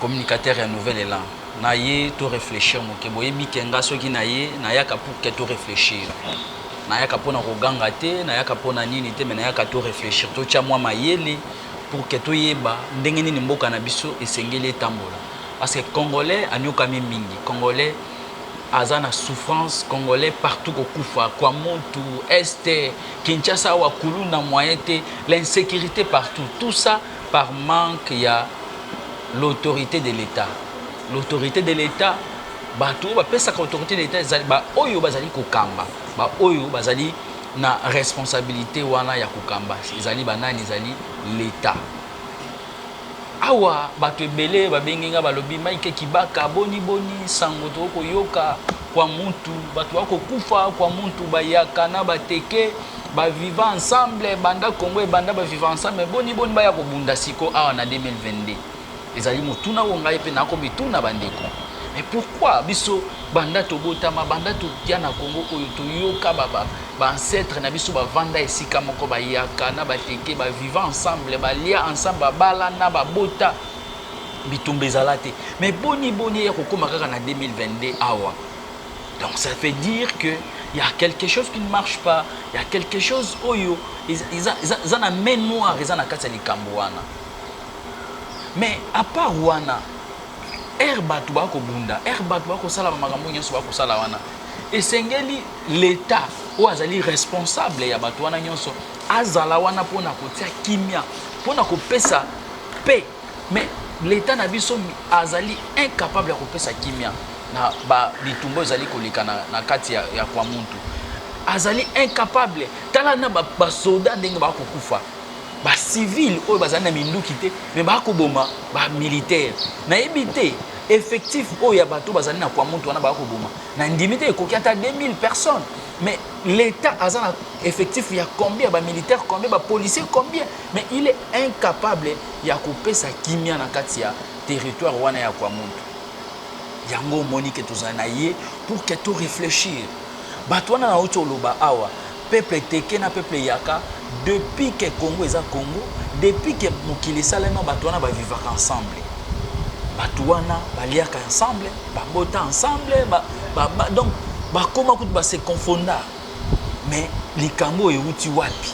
communicateur ya nouvel elan na ye to reflechir muke boyebi ke nga soki na ye na yaka pour ke to reflechir na yaka pona ko ganga te na yaka pona nini te mais na yaka to reflechir to tia mwa mayele pour ke to yeba ndenge nini mboka na biso e sengeli e tambola parce que congolais a niokami mingi congolais aza na souffrance congolais partout ko kufa kuamontu est kinshasa awa kuluna moyen te l'insecurite partout tout ça par manque ya l'autorite de l'etat l'autorite de l'etat bato oyo bapesaka autorite de l'etat ezali baoyo bazali kokamba baoyo bazali na responsabilité wana ya kokamba ezali banani ezali l'etat awa bato ebele babengi nga balobi maike kibaka boni boni nsango toko koyoka kwa mutu bato bakokufa kwa mutu bayaka na bateke Ba viva ensemble banda congo ebanda ba viva ensemble boni boni baya kobunda siko awa na 2022 ezali motuna oyo ngai mpe nako mituna bandeko mais pourquoi biso banda tobotama banda toya na congo oyo toyoka ba, ba, ba ancêtre na biso bavanda esika moko bayaka na bateke ba viva ensemble balia ensemble babalana babota bitumba ezala te mais boni boni eya kokoma kaka na 2022 awa donc ça fait dire que il y a quelque chose qui ne marche pas il y a quelque chose oyo eza na main noire eza na kati ya likambo wana mais à part wana ere bato bakobunda ere bato bakosala makambo nyonso bakosala wana esengeli leta oyo azali responsable ya bato wana nyonso azala wana mpo na kotia kimia mpo na kopesa pe Mais l'etat na biso azali incapable ya kopesa kimia na ba bitumba ezali koleka na, na kati ya, ya kwa muntu azali incapable tala na basoda ba ndenge bakokufa bacivile oyo bazali na minduki te me bakoboma bamilitaire nayebi te effectif oyo ya bato bazali na kwa muntu wana bakoboma na ndimi te ekoki ata 2000 personnes mais l'etat aza na effectif ya combien bamilitaire combien bapolicier combien Mais il est incapable ya kopesa kimia na kati ya territoire wana ya Kwamuntu. Yango omoni ke tozala na ye pour que to reflechir. Bato wana na uti oloba awa, peuple teke na peuple yaka, depuis que Congo eza Congo, depuis que mokili esalema bato wana ba vivaka ensemble. Bato wana baliaka ensemble, babota ensemble, ba, ba, ba, donc bakoma kutu ba se confondaka. Mais likambo euti wapi?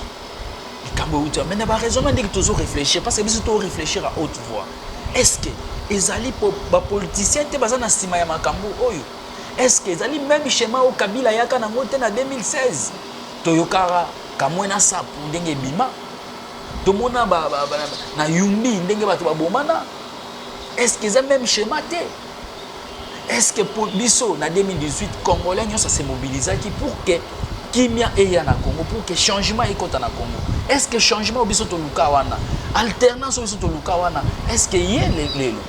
likambo euti mais na baraisonnement ndenge tozo réfléchir parce que biso to réfléchir à haute voix est ce que ezali po bapoliticien te baza na nsima ya makambo oyo est ce que ezali même schéma oyo kabila ayaka nango te na 2016 toyokaka kamwe na sapu ndenge ebima tomona na yumbi ndenge bato babomana est ce que eza même schéma te Est-ce que pour biso na 2018 congolais nyoso se mobilisaki pour que kimia eya na Congo pour que changement ekota na Congo Est-ce que changement biso toluka wana alternance biso toluka wana Est-ce que ye lelo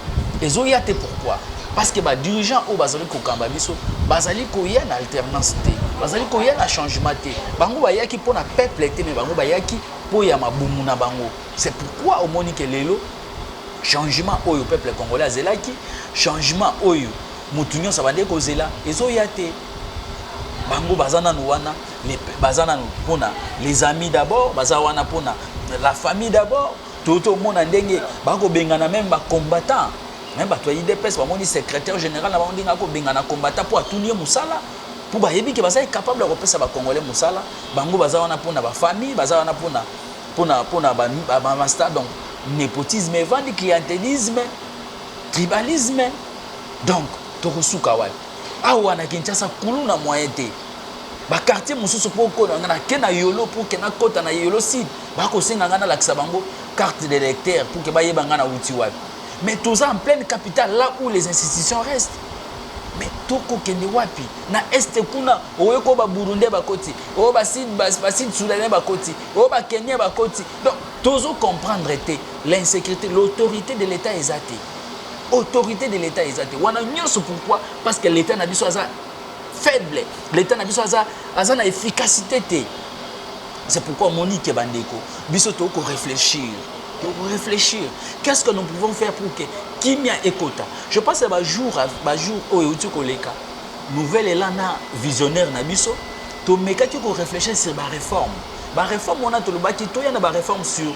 ezoya te pourquoi parce que ba dirigeants oyo bazali kokamba biso bazali koya na alternance te bazali koya na changement te bango bayaki mpo na peuple te mais bango bayaki mpo ya mabumu na bango c'est pourquoi omoni ke lelo changement oyo peuple congolais azelaki changement oyo mutu nyonso abandaki kozela ezoya te bango baza nanu wana baza nanu mpona les amis d'abord baza wana mpona la famille d'abord toyo tomona ndenge bakobengana meme bacombattant me bato ya idps bamoni secrétaire général na bango ndenge akobengana combattant mpo atuni ye mosala mpo bayebi ke baza incapable ya kopesa bacongolais mosala bango baza wana mpona bafamille baza wana mpona pona pona ba masta donc nepotisme evandi clientelisme tribalisme donc tokosuka wapi awa na kinshasa kulu na moyen te bakartier mosusu mpo okona nga nake na yolo mpo ke nakɔta na yolo sud bakosenga ngai nalakisa bango carte de lecteur mpo ke bayeba ngai nauti wapi mais toza en pleine capitale là où les institutions restent mais tokokende wapi na este kuna oyo ko baburundais bakoti oyo baside baside soudanais bakoti oyo ba Kenya bakoti donc tozo comprendre te l'insécurité l'autorité de l'État eza te autorité de l'État eza te wana nyonso pourquoi parce que l'État na biso aza faible l'État na biso aza aza na efficacité te c'est pourquoi omoni ke bandeko biso tokoki koréfléchir réfléchir qu'est-ce que nous pouvons faire pour que kimia ekota je pense ya bajour bajour oyo euti koleka nouvelle elana visionnaire na biso Tomekaki ko reflechir sur ba reformes. Ba reformes wana tolobaki toya na ba reformes sur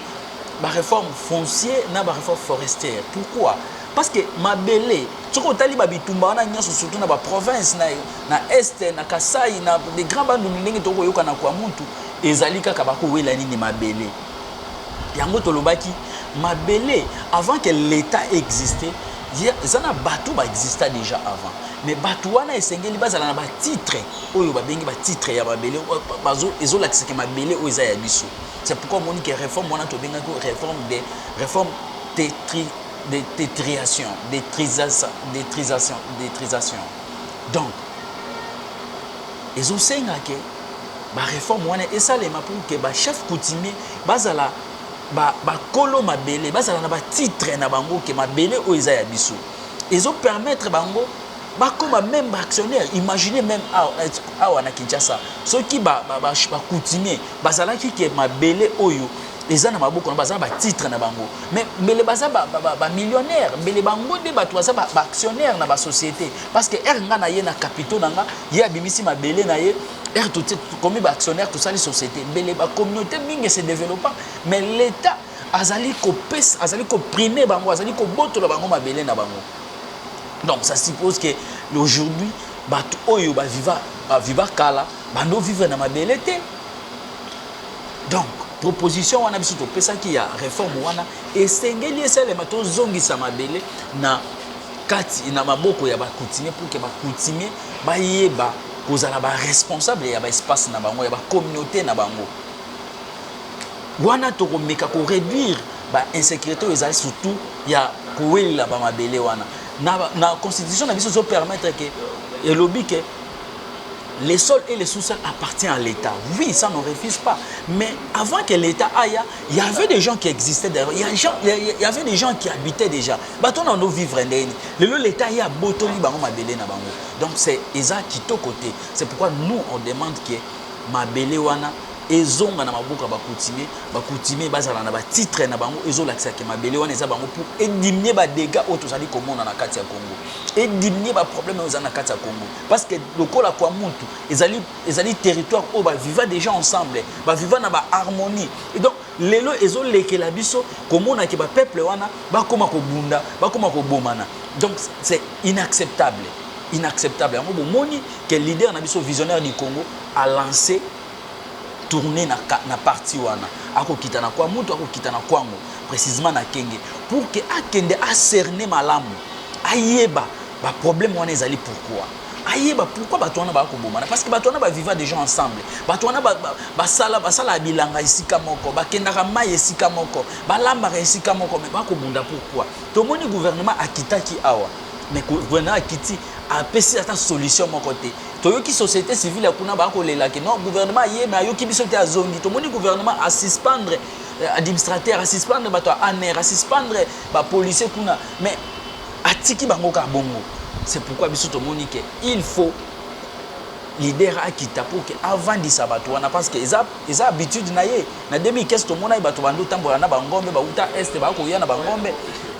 ba reformes foncier na ba reformes forestières. Pourquoi? Parce que mabele soki otali ba bitumba wana nyonso surtout na ba provinces na, na est na Kasai na de grand bandundu ndenge tokoyoka na kwa muntu ezali kaka bakowela nini mabele yango tolobaki mabele avant que l'État existe eza na bato baexista déjà avant mais bato wana esengeli bazala na batitre oyo babengi ba titre ya mabele ezolakisa ke mabele oyo eza ya biso c'est pourquoi omoni ke réforme wana tobengaki réforme de réforme tetri de tetriation detrisation detrisation detrisation donc ezosenga ke baréforme wana esalema pour ke bachef coutumier bazala bakolo ba mabele bazala na batitre na bango ke mabele oyo eza ya biso ezopermettre bango bakoma meme ba actionnaire imagine meme awa na kinshasa soki bacoutumier bazalaki ke mabele oyo eza na maboko na baza na batitre na bango mais mbele baza bamillionnaire ba, ba mbele bango nde bato baza baactionnaire na basociété parce que ere nga na ye na capitaux na nga ye abimisi mabele na ye ere tokomi baactionnaire tosali société mbele bacommunauté mingi se développa mais l'état azali kopesa azali koprime bango azali kobotola bango mabele na bango Donc ça suppose que aujourd'hui bato oyo ba viva ba viva kala bando vivre na mabele te. Donc proposition wana biso topesaki ya reforme wana esengeli esalema tozongisa mabele na kati na maboko ya bakutimie pour que bakutimie bayeba kozala baresponsable ya baespace na bango ya bacommunauté na bango Wana tokomeka ko reduire ba insecurite oyo ezali surtout ya kowelela ba mabele wana na, na constitution na biso ezo permettre ke elobi ke les sols et les sous-sols appartient à l'État. Oui, ça ne refuse pas. Mais avant que l'État aille, il y avait des gens qui existaient d'ailleurs. Il, il y avait des gens qui habitaient déjà. Baton en vivre Lelo l'État y a botoli bango mabele na bango. Donc c'est eza kito côté. C'est pourquoi nous on demande que mabele wana ezonga na maboko ya ba coutumier ba coutumier bazala na ba titre na bango ezolakisa ke mabele wana eza bango pour edimnie ba dega oyo tozali komona na kati ya congo edimnie ba problème oyo ezali na kati ya congo parce que lokola kwa mutu ezali ezali territoire oyo baviva déjà ensemble baviva na ba harmonie et donc lelo ezolekela biso komona ke bapeuple wana bakoma kobunda bakoma kobomana donc c'est inacceptable inacceptable yango bomoni ke leader na biso visionnaire du congo a lancé tourne na, na parti wana akokita na kwa mutu akokita na kwango precisement na kenge pour que akende acerne malamu ayeba baproblème wana ezali pourquoi ayeba pourquoi bato wana bakobomana parce que bato wana baviva déjà ensemble bato wana basala basalaka bilanga esika moko bakendaka mai esika moko balambaka esika moko me bakobunda pourquoi tomoni gouvernement akitaki awa mais gouvernement akiti apesi ata solution moko te toyoki société civile ya kuna baya kolela ke non gouvernement aye me ayoki biso te azongi tomoni gouvernement asuspendre euh, administrateur asuspendre bato ya aner asuspendre bapolicier kuna mais atiki bango kaka bongo c'est pourquoi biso tomoni ke il faut leader akita mpo ke avandisa bato wana parce que eza, eza habitude na ye na 2015 tomonaki bato bandi otambola na bangombe bauta este bakoya na bangombe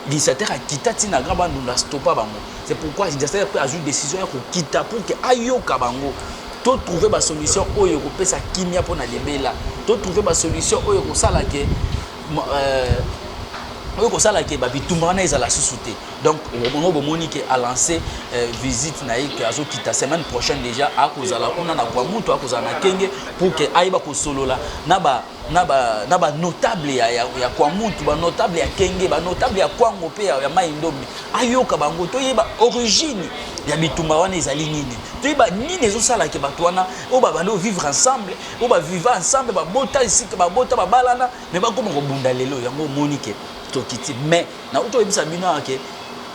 lisatere akita ntina gra bandunda stopa bango C'est pourquoi Jester pe azui decision ya kokita pour que ayoka bango to trouver ba solution oyo ekopesa kimia mpona libela to trouver ba solution oyo ekosala ke euh, oyo ekosala ke babitumba wana ezala susu te donc bongo bomoni ke alance euh, visite na ye ke azokita semaine prochaine déjà akozala kuna na kwa mutu akozala na kenge pour ke ayeba kosolola na ba na ba na ba notable ya ya, ya kwa mutu ba notable ya kenge ba notable ya kwango pe ya, ya mai ndombe ayoka bango toyeba origine ya bitumba wana ezali nini toyeba nini ezosala ke bato wana oyo babandi ovivre ensemble oyo baviva ensemble babota esika babota babalana me bakoma kobunda lelo yango omoni ke tokiti me nauti toyebisa bino awa ke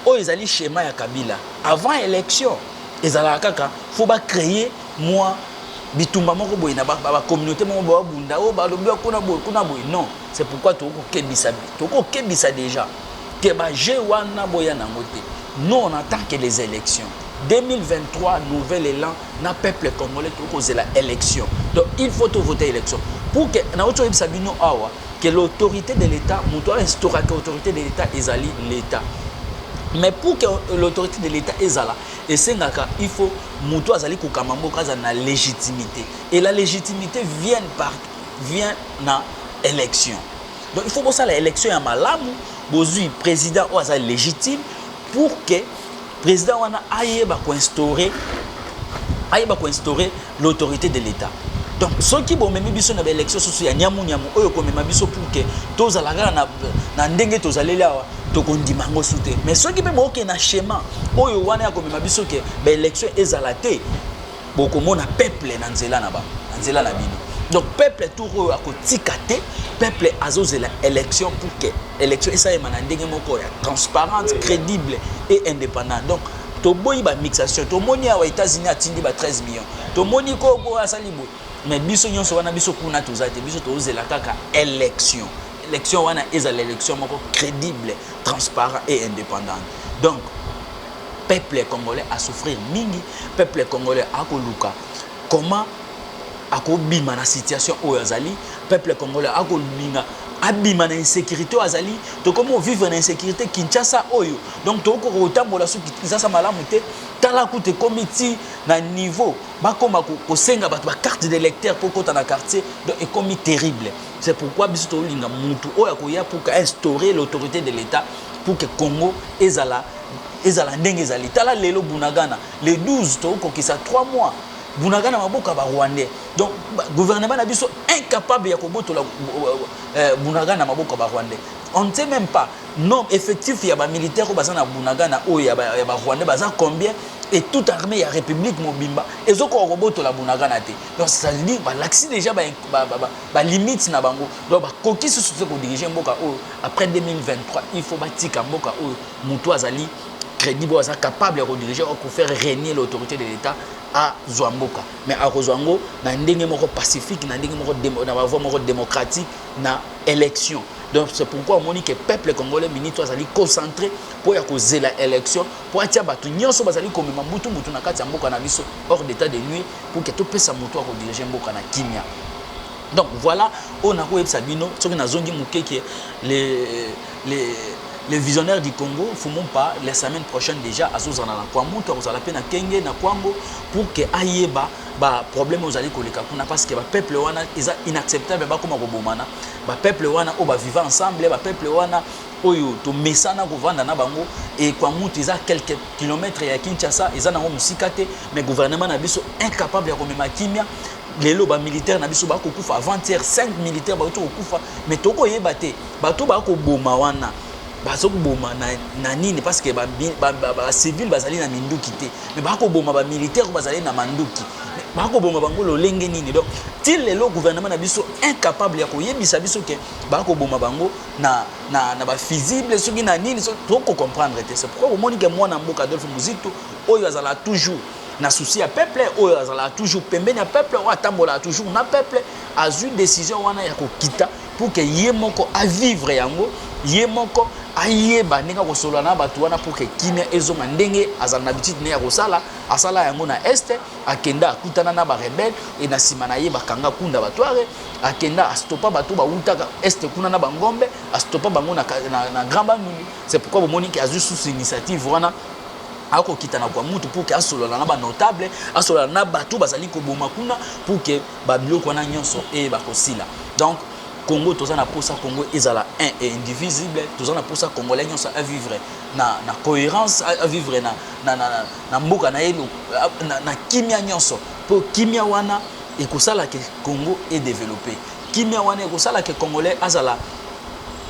oyo ezali schéma ya kabila avant élection ezalaka kaka fo bacreye mwa bitumba moko boye na bacommunauté moko boye babunda oyo oh, balobi kuna boye kuna boye non c'est pourquoi tokoki kokebisa tokoki kokebisa déjà ke bajeu wana boya na yango te non en tant que les élections 2023 nouvel élan na peuple congolais tokoki kozela élection donc il faut tovote élection pour que na oti oyebisa bino awa que l'autorité de l'état moto ainstauraka autorité de l'état ezali l'état mais pour que l'autorité de l'état ezala esengaka il faut mutu azali kokamba mboka aza na légitimité et la légitimité vient par vient na élection donc il faut bosala élection ya malamu bozui président oyo aza légitime pour que président wana ayeba koinstaure ayeba koinstaure l'autorité de l'Etat. Donc soki bomemi biso na baélection susu ya nyamu nyamu oyo komema biso pour que tozala kaka na, na ndenge tozaleli awa tokondima yango su te mais soki mpe bookende na schéma oyo wana ya komema biso ke baélection ezala te bokomona peuple na nzela na bango na nzela na bino donc peuple tour oyo akotika te peuple azozela élection pour que élection esalema na ndenge moko ya transparente crédible et indépendante donc toboyi ba mixation tomoni awa états-unis atindi ba 13 millions tomoni koko asali boye mais biso nyonso wana biso kuna toza te biso tozela kaka élection élection wana ezala élection moko crédible transparent et indépendante donc peuple congolais asouffrir mingi peuple congolais akoluka comment akobima na situation oyo azali peuple congolais akolinga abima na insécurité oyo azali tokomi ovivre na insécurité kinshasa oyo donc tokokoka kotambola soki kinshasa malamu te tala kutu ekomi ti na niveau bakoma kosenga bato bacarte de lecteur mpo okota na quartier donc ekomi terrible c'est pourquoi biso tolinga motu oyo akoya pour instaurer l'autorité de l'état pour que congo ezala ezala ndenge ezali tala lelo bunagana le 12 tokokokisa 3 mois bunagana maboko ya barwandais donc gouvernement na biso incapable ya kobotola euh, euh, bunagana maboko ya barwandais on ne sait même pas Non, effectif ya ba militaires oyo baza na Bunagana oyo ya ba, ya ba Rwandais baza combien et toute armée ya République mobimba ezokoka kobotola Bunagana te. Donc ça veut dire balakisi déjà ba, ba, ba, ba, ba limites na bango. Donc bakoki susu te kodirige mboka oyo après 2023 il faut batika mboka oyo mutu azali crédible oyo aza capable ya kodirige oyo kofaire régner l'autorité de l'État azwa mboka mais akozwa yango na ndenge moko pacifique na ndenge moko na bavoi moko démocratique na election donc c'est pourquoi omoni ke peuple congolais mingi to azali concentré mpo ya kozela élection mpo atya bato nyonso bazali komema mbutu mbutu na kati ya mboka na biso hors d'état de nuire pour ke topesa moto ya kodirige mboka na kimia donc voilà oyo nakoyebisa bino soki nazongi moke ke le, le le visionnaire du Congo Fumumpa la semaine prochaine déjà azozala na Kwamutu akozala mpe na Kenge na Kwango pour que ayeba ba problème oyo ezali koleka kuna parce que ba peuple wana eza inacceptable bakoma kobomana ba peuple wana oyo baviva ensemble ba peuple wana oyo tomesana kovanda na bango ekwamutu eza quelques kilomètres ya kinshasa eza nango mosika te mais gouvernement na biso incapable ya komema kimia lelo bamilitaire na biso bakokufa avant-hier 5 militaire bauti kokufa me tokoyeba te bato bakoboma wana bazoboma na, na nini parce que bacivile ba, ba, ba, bazali na minduki te mais bakoboma ba militaire oyo bazali na manduki bakoboma bango lolenge nini donc ti lelo gouvernement na biso incapable ya koyebisa biso ke bakoboma bango na, na, na bafusible soki na nini so, tokocomprendre te c'est pourquoi omoni ke mwana mboka adolphe muzito oyo azala toujours na souci ya peuple oyo azalaka toujours pembeni ya peuple oyo atambolaka toujours na peuple azwi décision wana ya kokita pour que ye moko a vivre yango ye moko ayeba ndenge akosolola na bato wana pour que kimia ezonga ndenge azala na habitude ne ya kosala asala yango na este akenda akutana na barebele e na nsima na ye bakanga kunda batware akenda astopa bato bawutaka este kuna na bangombe astopa bango na, na, na grand bandundu c'est pourquoi bomoni ke azwi susu initiative wana akokita na kwa mutu pour ke asolola na banotable asolola na bato bazali koboma kuna pour ke Ba biloko wana nionso eyeba kosila donc Congo toza na posa Congo ezala un et indivisible toza na posa congolais nionso a vivre na na coherence a vivre na na na na mboka na ye na, na kimia nionso po kimia wana ekosala ke Congo e developper kimia wana ekosala ke congolais azala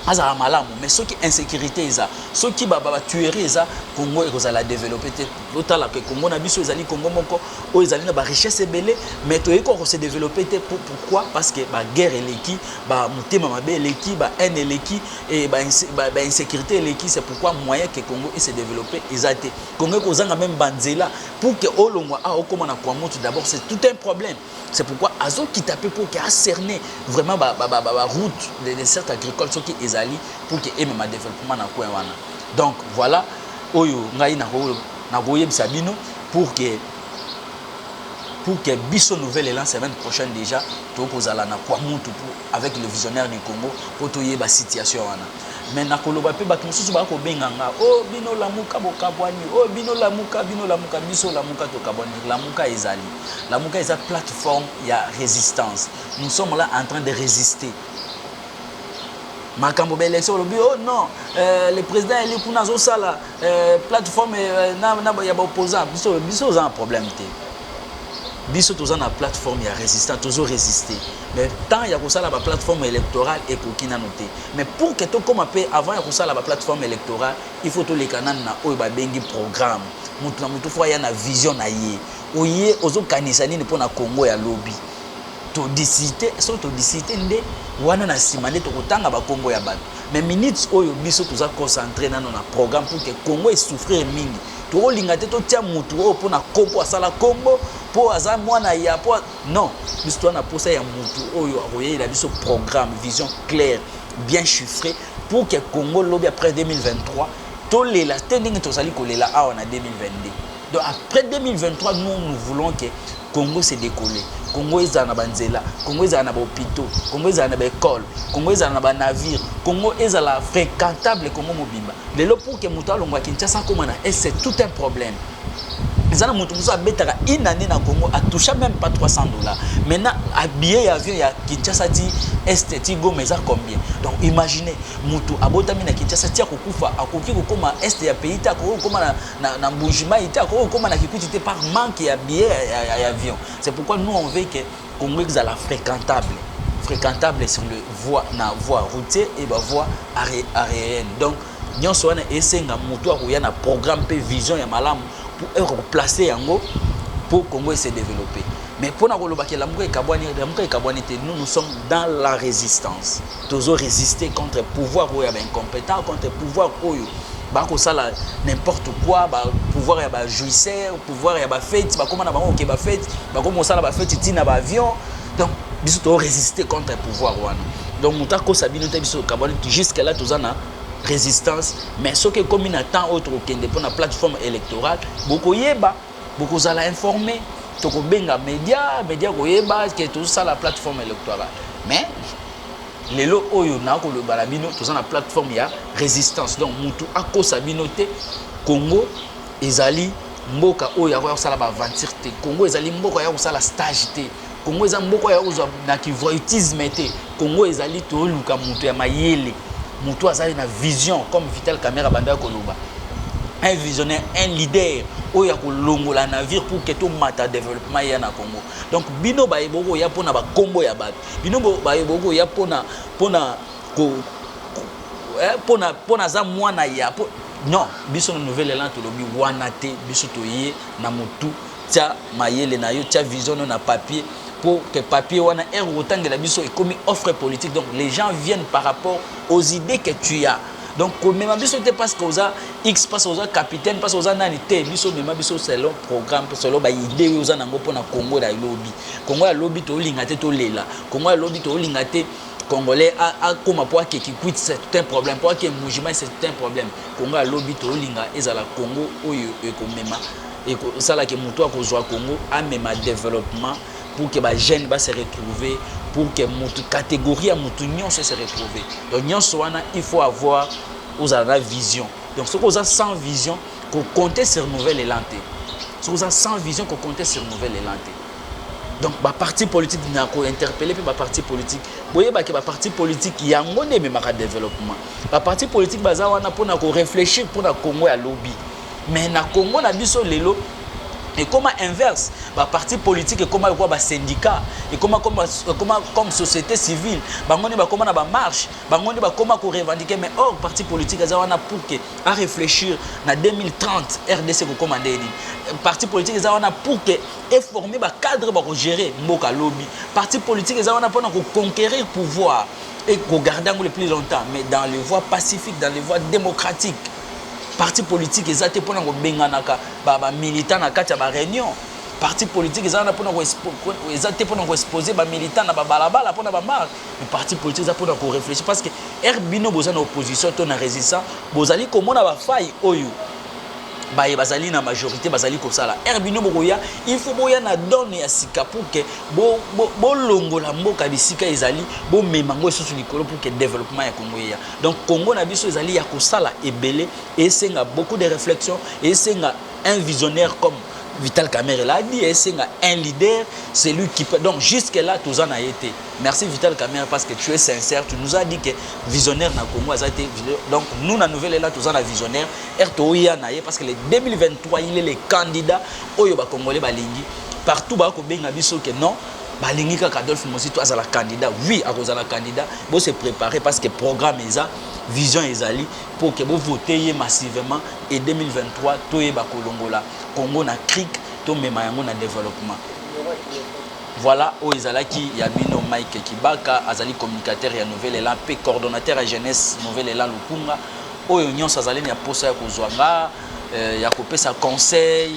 azala malamu mais soki insécurité eza soki ba ba tuerie eza Congo ekozala developper te Botala que Congo na biso ezali Congo moko oyo ezali na ba richesse ebele mais toyei ko se développer te pour pourquoi parce que ba guerre eleki ba mutema mabe eleki ba haine eleki et ba, ba, ba insécurité eleki c'est pourquoi moyen que Congo et se développer eza te Congo ekozanga même banzela pour que olongwa a okoma na kwa mutu d'abord c'est tout un problème C'est pourquoi azo kita pe pour que a cerner vraiment ba ba ba ba route des desserts agricoles soki ezali pour que eme ma développement na coin wana. Donc voilà oyo ngai na ko na ko yebisa bino pour que pour que biso nouvelle élan semaine prochaine déjà to ko zala na kwa mutu pour avec le visionnaire du Congo po toyeba situation wana mais nakoloba mpe bato mosusu baya kobenga nga o oh, bino lamuka bokabwani o oh, bino lamuka bino lamuka biso lamuka tokabwani lamuka ezali lamuka eza plateforme ya résistance nous sommes là en train de résister makambo ba élection olobi oh non euh, le président eli kuna azosala euh, plateforme euh, na, na, ya baopposant biso biso oza na problème te biso toza na plateforme ya résistance tozo résister Mais temps ya kosala ba plateforme electorale ekoki nanu te. Mais pour que tokoma pe avant ya kosala ba plateforme electorale, il faut toleka nanu na oyo babengi programme. Mutu na mutu faut aya na vision na ye. Oye ozokanisa nini pona Congo ya lobi? To discuter, soki to discuter nde wana na sima nde tokotanga ba kombo ya batu. Mais minutes oyo biso toza concentrer nanu na programme pour que Congo e souffrir mingi. Tokolinga te totia mutu oyo pona kombo asala kombo, po aza mwana ya po Non, biso toza na posa ya mutu oyo akoyelela biso programme, vision claire, bien chiffrée pour que Congo lobi après 2023 tolela te ndenge tozali kolela awa na 2022. Donc après 2023 nous nous voulons que Congo se décolle. Congo ezala na banzela, Congo ezala na ba hôpitaux, Congo ezala na ba écoles, Congo ezala na ba navires, Congo ezala fréquentable Congo mobimba. Lelo pour que mutu alongwa Kinshasa akoma na est tout un problème. eza na moto mosusu abetaka une année na congo atoucha même pas 300 dollars maintenant abiye ya avion ya kinshasa ti este ti goma eza combien donc imagine moto abotami na kinshasa ti akokufa akoki kokóma este ya pays te akoki kokóma na, na, na mbujimai te akoki kokóma na kikuti te par manque ya biye ya, ya, ya avion c'est pourquoi nous on veut que Congo ezala fréquentable fréquentable sur le voie na voie routier et ba voie aérienne donc nyonso wana esenga moto akoya na programme mpe vision ya malamu mpo eko koplace yango mpo congo ese développe mais mpo na kolobaka elamuka ekabwani elamuka ekabwani te nous nous sommes dans la résistance tozo resister contre pouvoir oyo ya ba incompetent contre pouvoir oyo bakosala n'importe quoi ba pouvoir ya ba jouisseur pouvoir ya ba fete bakoma na bango oke ba fete bakoma kosala ba fete ntina ba avion donc biso to résister contre pouvoir wana donc moto akosa bino te biso kabwani jusque là toza na résistance mais soki ekomi na temps oyo tokokende mpo na plateforme électorale bokoyeba Bokozala informe, tokobenga media, media koyeba ke tozosala plateforme electorale. Mais lelo oyo na koloba na bino toza na plateforme ya resistance donc mutu akosa bino te congo ezali mboka oyo akoya kosala baaventure te congo ezali mboka ya kosala stage te Congo eza mboka ya kozwa na kivoytisme te. Congo ezali toluka moto ya mayele, moto azali na vision comme Vital Kamerhe abandaki koloba. Un visionnaire, un leader oyo ya kolongola navire pour que tomata développement ya na Congo. Donc bino baye bokoya mpo na bakombo ya bato, bino baye bokoya mpo na mpo na ko mpo na mpo na aza mwana ya non biso na nouvelle élan tolobi wana te biso toye na motu Tia mayele na yo, tia vision no na papier pour que papier wana heure otangela biso ekomi offre politique donc les gens viennent par rapport aux idées que tu as donc komema biso te parce que oza x parce que oza capitaine parce que oza nani te biso mema biso selon programme selon ba idée oyo oza nango mpona congo ya lobi congo ya lobi tolinga te tolela congo ya lobi tolinga te congolais akoma mpo ake kikwit c'est tout un problème mpo ake mujima c'est tout un problème congo ya lobi tolinga ezala congo oyo ekomema ekosala ke moto akozwa Congo amema developpement pour que ba jeunes ba se retrouver pour que mutu catégorie ya mutu nyonso se retrouver donc nyonso wana il faut avoir ozala na vision donc soki oza sans vision ko compter sur nouvel élan te soki oza sans vision ko compter sur nouvel élan te donc baparti politique na kointerpele mpe baparti politique boyeba ke baparti politique yango nde ememaka développement baparti politique baza wana mpona korefléchir mpona congo ya lobi Mais na Congo na biso lelo ekoma inverse ba parti politique ekoma lokola ba syndicat ekoma comme, ekoma comme société civile bango nde bakoma na bamarche bango nde bakoma korevendiquer mais or parti politique eza wana pour ke aréfléchir na 2030 rdc kokoma nde nini parti politique eza wana pour ke eforme bacadre bakogere mboka lobi parti politique eza wana mpona koconquérir pouvoir et kogarde yango le plus longtemps mais dans les voies pacifiques dans les voies démocratiques parti politique eza te mpona kobenganaka bamilitant na kati ya bareunion parti politique eza wana mpona eza te mpona koexpose bamilitant na babalabala mpona bamarke mais parti politique eza mpona koreflechir parce que ere bino boza na opposition to na résistant bozali komona bafai oyo baye bazali na majorité bazali kosala ere bino bokoya il faut boya na done ya sika pour ke bolongola bo, bo mboka bisika ezali bomema yango lisusu likolo pour ke développement ya kongo eya Donc Congo na biso ezali ya kosala ebele esenga beaucoup de réflexion esenga un visionnaire comme Vital Kamerhe l'a dit esenga un leader c'est lui qui peut donc jusque là toza na été merci Vital Kamerhe parce que tu es sincère tu nous as dit que visionnaire na Congo aza été donc nous na nouvelle là toza na visionnaire RTO ya na ye parce que le 2023 il est le candidat oyo ba congolais balingi partout ba ko benga biso que non balingi kaka adolphe mozito azala candidat oui akozala candidat bose préparer parce que programme eza vision ezali mpo ke bovote ye massivement e 2023 toyeba kolongola congo na crique tomema yango na développement voilà oyo ezalaki ya bino mike kibaka azali communicateur ya nouvel élan mpe coordonnateur ya jeunesse nouvel élan lukunga oyo nyonso azali na posa ya kozwa nga euh, ya kopesa conseil